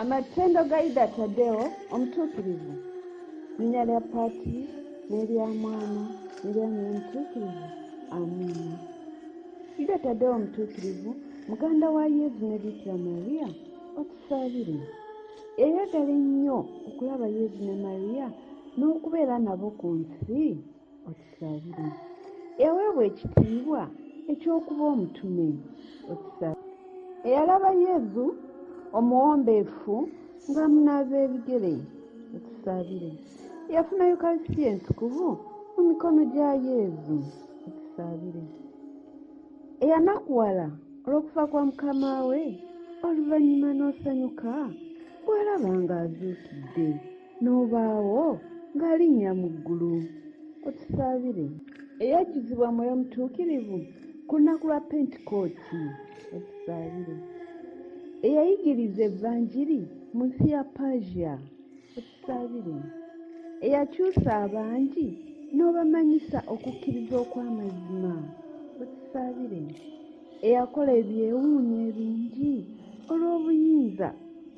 Amatendo ga Ida Tadeo omutuukirivu, linnya lya Paati n'erya Mwana n'erya Mwoyo Mutuukirivu. Amiina. Ida Tadeo omutuukirivu, muganda wa Yezu ne Bikira Maria, otusaabire. Yayagala ennyo okulaba Yezu ne Maria n'okubeera nabo ku nsi. otusabire eweebwa ekitiibwa eky'okuba omutume otusabire eyalaba yezu omuwombeefu ng'amunaaza ebigere otusabire yafuna yukarisitiya entukuvu mu mikono gya yezu otusabire eyanakuwala olw'okufa kwa mukama we oluvannyuma n'osanyuka bw'alaba ng'azuukidde n'obaawo ng'alinnya mu ggulu otusaabire eyakizibwa mwoyo mutuukirivu ku lunaku lwa pentikooti otusaabire eyayigiriza evanjiri mu nsi ya persia otusaabire eyakyusa abangi n'obamanyisa okukkiriza okw'amazima otusaabire eyakola ebyewuunyo ebingi olw'obuyinza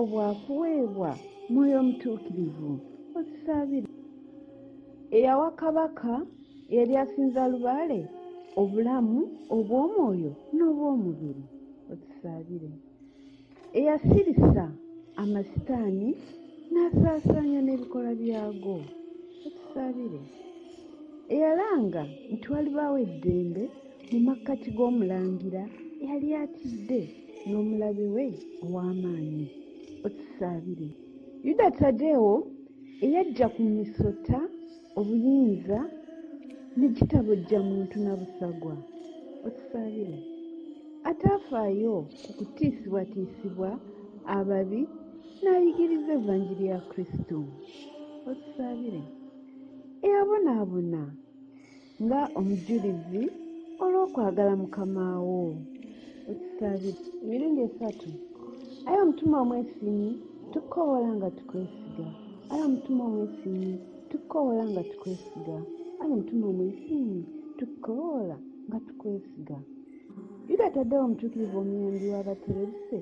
obwakuweebwa mwoyo omutuukirivu okisaabire eyawa kabaka eyali asinza lubaale obulamu obw'omwoyo n'obw'omubiri okisaabire eyasirisa amasitaani n'asaasaanya n'ebikola byago ekisabire eyalanga nti walibaawo eddembe mu makkati g'omulangira eyali atidde n'omulabe we ow'amaanyi otusaabire yuda tadewo eyajja ku misota obuyinza nekitabojja muntu nabusagwa otusabire ataafaayo ku kutiisibwatiisibwa ababi n'ayigiriza evanjiri ya kristo otusabire eyabonaabona nga omujulizi olw'okwagala mukama wo otusabire emirundi esatu aye omutima omwesinyi tukoola nga tukwesiga aye omutima omwesinyi tukoola nga tukwesiga ayi mutima omuyisimu tukoola nga tukwesiga yuda taddewo omutuukirivu omuyambi w'abaterebuse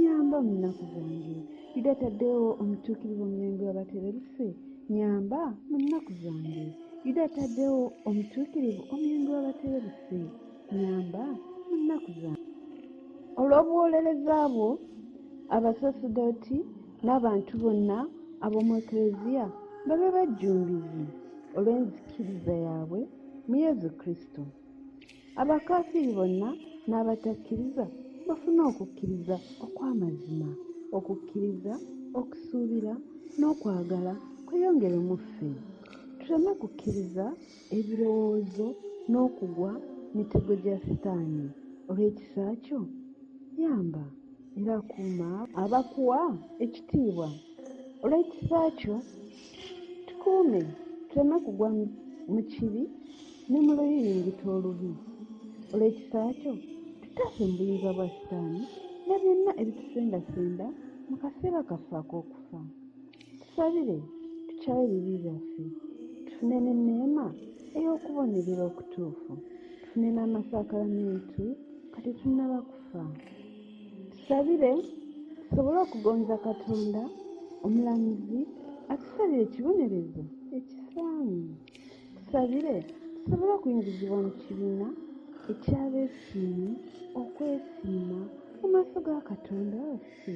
nyamba mu nnaku zange yuda taddewo omutuukirivu omuyambi w'abaterebuse nyamba mu nnaku zange yuda taddewo omutuukirivu omuyambi w'abaterebuse nyamba mu nnaku zange olw'obuwolereza bwo abasasudoti n'abantu bonna ab'omu Eklezia babe bajjumbizi olw'enzikiriza yaabwe mu Yezu Kristo. Abakafiiri bonna n'abatakkiriza bafune okukkiriza okw'amazima, okukkiriza, okusuubira n'okwagala kweyongere mu ffe. Tuleme kukkiriza ebirowoozo n'okugwa mitego gya sitaani olw'ekisa kyo yamba era kuuma abakuwa ekitiibwa olw'ekisa kyo tukuume tuleme kugwa mu kibi ne mu luyiringita olubi olw'ekisa kyo tutaase mu buyinza bwa sitaani na byonna ebitusendasenda mu kaseera kaffe ak'okufa Tusabire tukyawe ebibi byaffe tufune n'enneema ey'okubonerera okutuufu tufune n'amasakalamentu kati tunnaba kufa tusabire tusobole okugonza katonda omulamuzi atusabire ekibonerezo ekisaanyi tusabire tusobole okuyingizibwa mu kibiina ekyabeesiimi okwesiima mu maaso ga katonda waffe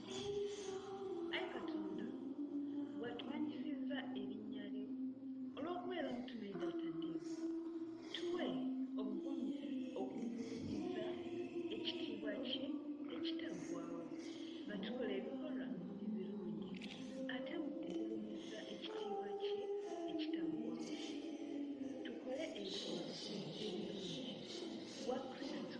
Ai Katonda, watumanyisizza erinnya lyo olw'okubeera omutume gy'ataddeyo. Tuwe obuvumu okugulumiza ekitiibwa kye ekitaggwawo nga tukola ebikolwa ebirungi ate mu kugulumiza ekitiibwa kye ekitaggwawo tukole ebikolwa ebirungi wa Kristo